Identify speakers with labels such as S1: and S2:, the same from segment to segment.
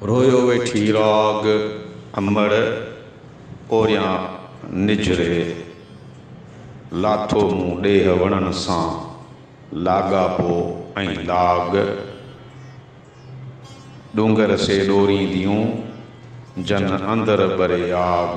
S1: رويو ويٺي راڳ امڙ اوريان نجهري لاٿو مون ڏيهه وڻن سان لاڳاپو ۽ لاڳ ڏونگر سي ڏورينديون جن اندر ٻري آڳ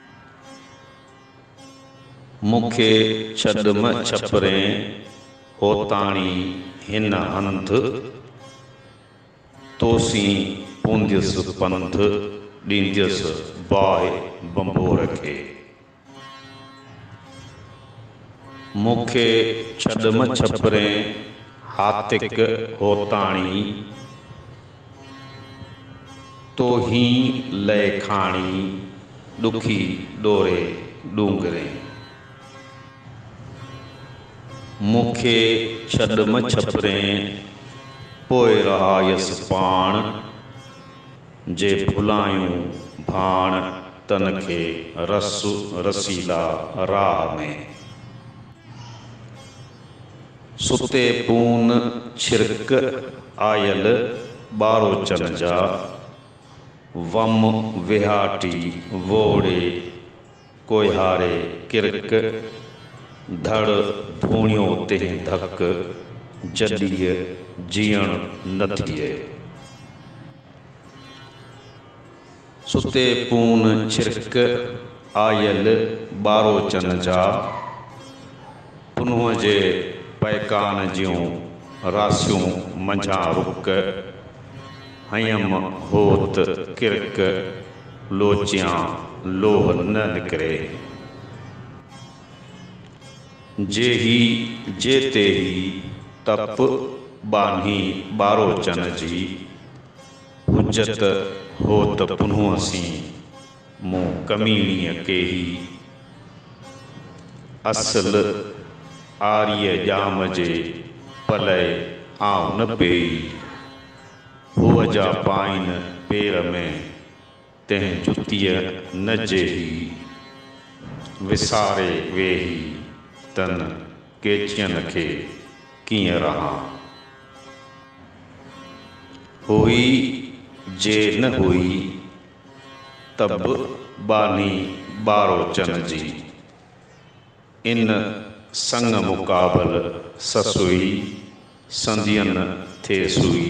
S1: مون کي ڇڏ مه ڇپرين هوتاڻي هن هنڌ، توسين پونديس پنڌ ڏينديس باهه ڀنڀور کي. مون کي ڇڏ مه ڇپرين هاتڪ هوتاڻي. توهين لئه کاڻي ڏکي ڏوري ڏونگرين. مون کي ڇڏ م ڇپرين پوء رهايس پاڻ. جي ڀلائيون ڀاڻ تن کي رس رسيلا راهه ۾. ستي پون ڇرڪ آيل ٻاروچن جا، وم وهاٽي ووڙي ڪوهياري ڪرڪ، ڌڙ ڌوڻيو تنهن ڌڪ، جڏيء جيئڻ نه ٿئي. ستي پون ڇرڪ آيل ٻاروچن جا، پنهون جي پئڪان جون راسيون منجهان رڪ، هنئيم هوت ڪرڪ لوچيان لوه نه لڪري. جيهي جي تيهي تپ ٻانهي ٻاروچن جي. حجت هو ته پنهون سين، مون ڪميڻيء ڪيهي. اصل آريء ڄام جي پلئي آئون نه پيئي. هوء جا پائين پير ۾، تنهن جتيء نه جيهي، وساري ويهي تن ڳيچين کي ڪيئن رهان. هئي جي نه هئي ته به ٻانهي ٻاروچن جي، ان سڱ مقابل سسئي سندين ٿي سئي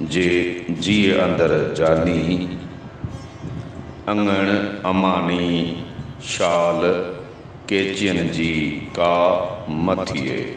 S1: جي جيء اندر جاني، اڱڻ اماڻي، شال ڪيچين جي ڪا مه ٿئي.